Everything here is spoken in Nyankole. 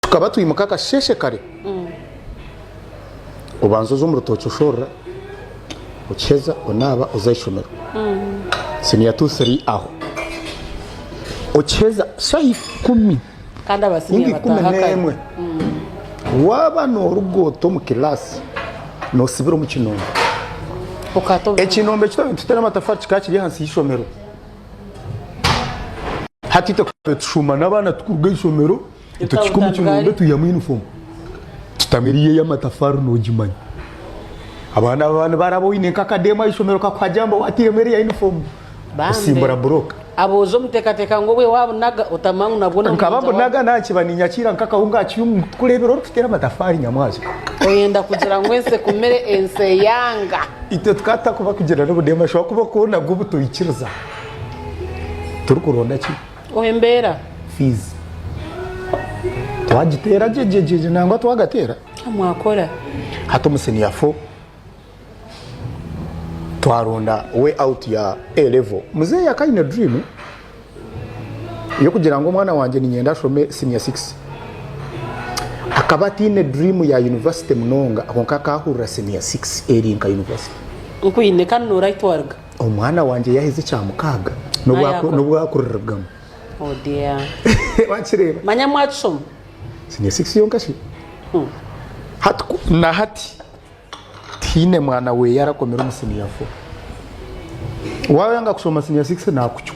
Tukaba twimuka akasheeshe kare, obanza oza omu rutookye oshorora, okiheza onaaba oza aha ishomero. Siniya tu three aho. Okiheza shaaha ikumi Kandi aba siniya ninga ikumi bataaha kare. n'emwe. Waaba nooruga ota omu kiraasi, noosibira omu kinombe. Okaata obundi. Ekinombe eki twaba nitutaire amatafaari kikaba kiri ahansi y'eishomero. Hati itwe tukaba nitushuuma n'abaana tukuruga aha ishomero, Nitokika omu kibumbe twihamu yunifoomu, tutamu eriiyo ey'amatafaari noogimanya. Abaana baaba nibaraba oine nk'akadeemu aha ishomero kakuhagira ngu waatairemu eriiya yunifoomu osimbura burooka. Aboojo muteekateeka ngu obwe waabunaga otamanya ngu nabwo n'omurinzi waabwo. Nkaba mbunaga naakiba ninyakiira nk'akahunga aha kiyungu ngu tikureebera orikuteera amatafaari nyamwazyo. Oyenda kugira ngu ensi ekumire ensi eyanga. Itwe tukaba tutakubakugira n'obudeemu ashobora kuba okubonaga obu toikiriza. Turikuronda ki? Ohembera. Fees. Twagitera gyegyegyegye nangwa twagatera. Mwakora. Hati omu senior four twaronda way out ya A level. Muzeyi akaba aine dream yokugira ngu omwana wangye ninyenda ashome senior six. Akaba ataine dream ya university munonga kwonka akahurira senior six eri nka university. Nkwine kandi noraitwarga. Omwana wangye yaheza ekya mukaaga n'obu arikurirugamu. Wakireeba? Manya mwakishoma. Siniya sikisi yonka shi? Hati na hati tihaine mwana weeye arakomera omu siniya fo. Waayanga kushoma siniya sikisi naakucwa.